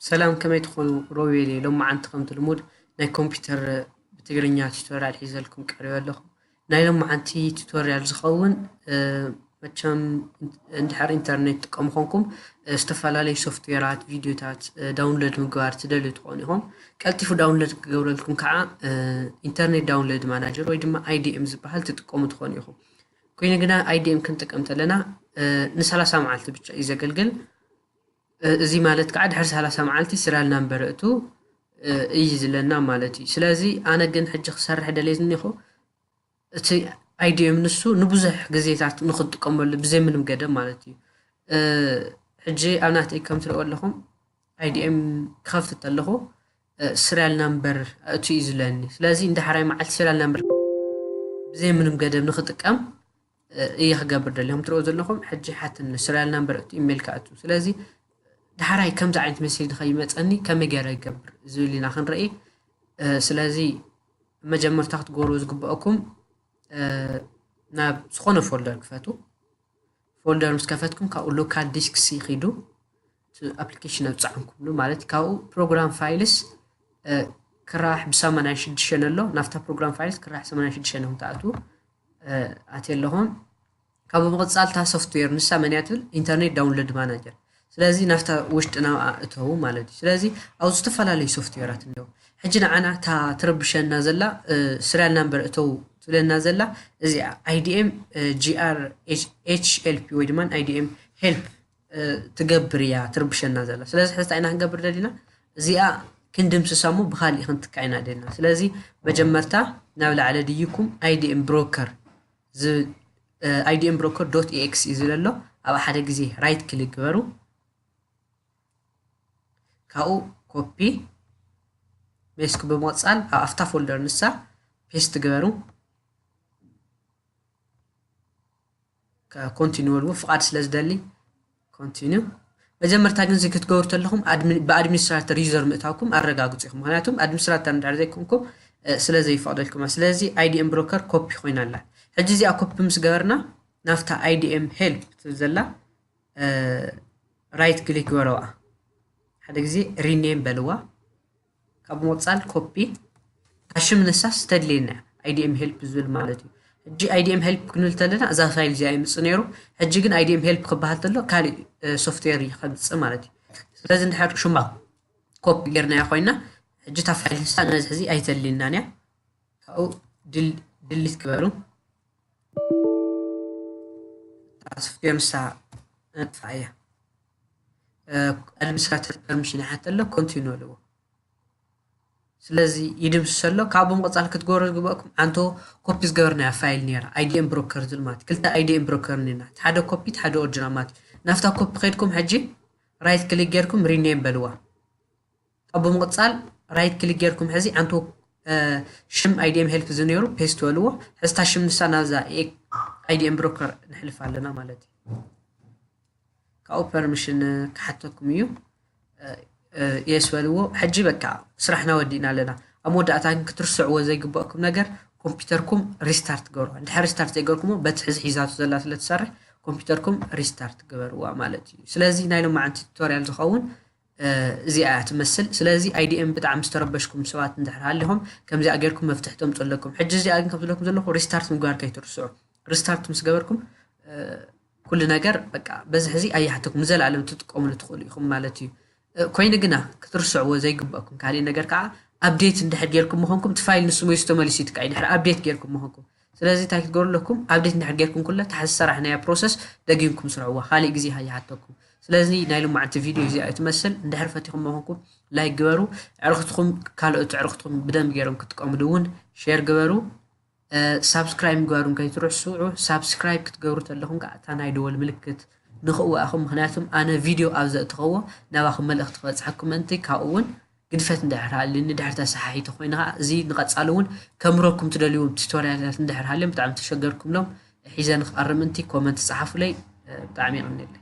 ሰላም ከመይ ትኾኑ ሮቤል እየ ሎማዓንቲ ከምቲ ልሙድ ናይ ኮምፒውተር ብትግርኛ ቱቶሪያል ሒዘልኩም ቀሪበ ኣለኹ ናይ ሎማዓንቲ ቱቶሪያል ዝኸውን መቸም እንድሕር ኢንተርኔት ትጥቀሙ ኮንኩም ዝተፈላለዩ ሶፍትዌራት ቪድዮታት ዳውንሎድ ምግባር ትደልዩ ትኾኑ ኢኹም ቀልጢፉ ዳውንሎድ ክገብረልኩም ከዓ ኢንተርኔት ዳውንሎድ ማናጀር ወይ ድማ ኣይዲኤም ዝበሃል ትጥቀሙ ትኾኑ ኢኹም ኮይኑ ግና IDM ክንጥቀም ተለና ንሰላሳ መዓልቲ ብቻ እዩ ዘገልግል እዚ ማለት ከዓ ድሕሪ ሰላሳ መዓልቲ ስሪያል ናምበር እቱ እዩ ዝለና ማለት እዩ ስለዚ ኣነ ግን ሕጂ ክሰርሕ ደልየ ዝኒኹ እቲ ኣይዲኤም ንሱ ንብዙሕ ግዜታት ንክትጥቀመሉ ብዘይ ምንም ገደብ ማለት እዩ ሕጂ ኣብ ናተይ ከም ትሪእዎ ኣለኹም IDM ክኸፍት ተለኹ ስርያል ናምበር ኣእቱ እዩ ዝለኒ ስለዚ ንዳሕራይ መዓልቲ ስርያል ናምበር ብዘይ ምንም ገደብ ንክጥቀም እየ ክገብር ደሊ ከም ትሪኦ ዘለኹም ሕጂ ሓትኒ ስርያል ናምበር እቱ ኢሜል ክኣቱ ስለዚ ዳሕራይ ከምዚ ዓይነት መሴጅ ንኸይመፀኒ ከመይ ገይረ ይገብር ዝብል ኢና ክንርኢ ስለዚ መጀመርታ ክትገብሩ ዝግበአኩም ናብ ዝኾነ ፎልደር ክፈቱ ፎልደር ምስ ከፈትኩም ካብኡ ሎካል ዲስክስ ይኺዱ ኣፕሊኬሽን ኣብ ጸዓንኩሉ ማለት ካብኡ ፕሮግራም ፋይልስ ክራሕ ብሰማንያን ሽዱሽተን ኣሎ ናብታ ፕሮግራም ፋይልስ ክራሕ ሰማንያን ሽዱሽተን ኢኹም ትኣትዉ ኣትየ ኣለኹም ካብኡ ምቕጻል እታ ሶፍትዌር ንሳ መንያ ትብል ኢንተርኔት ዳውንሎድ ማናጀር ስለዚ ናብታ ውሽጢ ናብኣ እተዉ ማለት እዩ ስለዚ ኣብ ዝተፈላለዩ ሶፍትዌራት እኒው ሕጂ ንዓና እታ ትርብሸና ዘላ ስሪያል ናምበር እተዉ ትብለና ዘላ እዚኣ ኣይዲኤም ጂኣር ኤችኤልፒ ወይ ድማ ኣይዲኤም ሄልፕ ትገብር እያ ትርብሸና ዘላ ስለዚ ሕዚ እንታይ ኢና ክንገብር ደሊና እዚኣ ክንድምስሳ እሞ ብካሊእ ክንትካ ኢና ደሊና ስለዚ መጀመርታ ናብ ላዕሊ ድይኩም ኣይዲኤም ብሮከር ኣይዲኤም ብሮከር ዶት ኤክስ እዩ ዝለሎ ኣብ ሓደ ግዜ ራይት ክሊክ ግበሩ ካብኡ ኮፒ ሜስክ ብምቕፃል ኣብ ኣፍታ ፎልደር ንሳ ፔስት ግበሩ ኮንቲንወል እውን ፍቓድ ስለ ዝደሊ ኮንቲንው መጀመርታ ግን እዚ ክትገብሩ ተለኹም ብኣድሚኒስትራተር ዩዘር ምእታውኩም ኣረጋግፁ ኢኹም ምክንያቱም ኣድሚኒስትራተር እንድሕር ዘይኮንኩም ስለ ዘይፈቕደልኩማ ስለዚ ኣይዲኤም ብሮከር ኮፒ ኮይና ኣላ ሕጂ እዚኣ ኮፒ ምስ ገበርና ናብታ ኣይዲኤም ሄልፕ ትብል ዘላ ራይት ክሊክ ግበረዋ ሓደ ግዜ ሪኔም በልዋ ካብ ሞጻል ኮፒ ካሽ ምንሳስ ተድልየና እያ ኣይዲኤም ሄልፕ ዝብል ማለት እዩ ሕጂ ኣይዲኤም ሄልፕ ክንብል ተለና እዛ ፋይል እዚኣ ይምጽ ነይሩ ሕጂ ግን ኣይዲኤም ሄልፕ ክበሃል ተሎ ካልእ ሶፍትዌር እዩ ከምጽእ ማለት እዩ ስለዚ እንድሕር ሹማ ኮፒ ጌርናዮ ኮይና ሕጂ እታ ፋይል ንሳ ነዚ ሕዚ ኣይተልየናን እያ ካብኡ ድሊት ክበሉ ሶፍትዌር ንሳ ነጥፋ እያ ኣድሚኒስትራተር ፐርሚሽን ይሓተ ኣሎ ኮንቲኑ ኣለዎ ስለዚ ይድምስሰ ኣሎ ካብ ብምቕፃል ክትገብሩ ዝግበእኩም ሓንቶ ኮፒ ዝገበርናያ ፋይል ነይራ ኣይዲኤም ብሮከር ዝብል ማለት ክልተ ኣይዲኤም ብሮከር ነና ሓደ ኮፒ ሓደ ኦርጅናል ማለት ናፍታ ኮፒ ከድኩም ሕጂ ራይት ክሊክ ጌርኩም ሪኔም በልዋ ካብ ብምቕጻል ራይት ክሊክ ጌርኩም ሕዚ ኣንቶ ሽም ኣይዲኤም ሄልፕ እዚ ነይሩ ፔስት በልዎ ሕዚ እታ ሽም ንሳ ናብዛ ኣይዲኤም ብሮከር ንሕልፍ ኣለና ማለት እዩ ካብኡ ፐርሚሽን ክሓተኩም እዩ የስ በልዎ ሕጂ በቃ ስራሕና ወዲእና ኣለና ኣብ መወዳእታ ግን ክትርስዕዎ ዘይግበእኩም ነገር ኮምፒውተርኩም ሪስታርት ገበርዋ እንድሕር ሪስታርት ዘይገርኩሞ በቲ ሕዚ ሒዛቱ ዘላ ስለ ትሰርሕ ኮምፒውተርኩም ሪስታርት ገበርዋ ማለት እዩ ስለዚ ናይ ሎማዓንቲ ቱቶሪያል ዝኸውን እዚኣ እያ ትመስል ስለዚ IDM ብጣዕሚ ዝተረበሽኩም ሰባት እንድሕር ሃሊኹም ከምዚኣ ጌርኩም መፍትሒ ተምጹ ኣለኩም ሕጂ እዚኣ ግን ከም ዝብለኩም ዘለኹ ሪስታርት ምግባር ከይትርስዑ ሪስታርት ምስ ገበርኩም ኩሉ ነገር በቃ በዚ ሕዚ ኣይሓተኩም ንዘለኣለም ትጥቀምሉ ትኽእሉ ኢኹም ማለት እዩ ኮይኑ ግና ክትርስዕዎ ዘይግበእኩም ካሊእ ነገር ከዓ ኣብዴት እንድሕር ጌርኩም ምኾንኩም እቲ ፋይል ንስሙ እዩ ተመሊሱ ይትካእ ድሕር ኣብዴት ጌርኩም ምኾንኩም ስለዚ እንታይ ክትገብሩ ኣለኩም ኣብዴት እንድሕር ጌርኩም ኩለ ታሕቲ ዝሰራሕናያ ፕሮሰስ ደጊምኩም ስርዕዋ ካሊእ ግዜ ከይሓተኩም ስለዚ ናይ ልማዓንቲ ቪድዮ እዚኣ እዩ ትመስል እንድሕር ፈቲኹሞ ኮንኩም ላይክ ግበሩ ዕርኽትኹም ካልኦት ዕርኽትኹም ብደንብ ገይሮም ክጥቀምሉ እውን ሼር ግበሩ ሳብስክራይብ ምግባሩን ከይትርስዑ ሳብስክራይብ ክትገብሩ ተለኹም ከዓ እታ ናይ ደወል ምልክት ንኽእዋእኹም ምክንያቱም ኣነ ቪድዮ ኣብ ዘእትኸዎ ናባኹም መልእኽቲ ክበፅሐኩም ምእንቲ ካብኡ እውን ግድፈት እንድሕር ሃልዩ ንድሕር ተሰሓሒቲ ኮይኑ ከኣ እዚ ንቀጻሊ ውን ከምህረኩም ትደልይዎም ቲቶርያልታት እንድሕር ሃልዮም ብጣዕሚ ተሸገርኩምሎም ሒዘ ንክቀርብ ምንቲ ኮመንት ጸሓፉለይ ብጣዕሚ የቀንየለይ።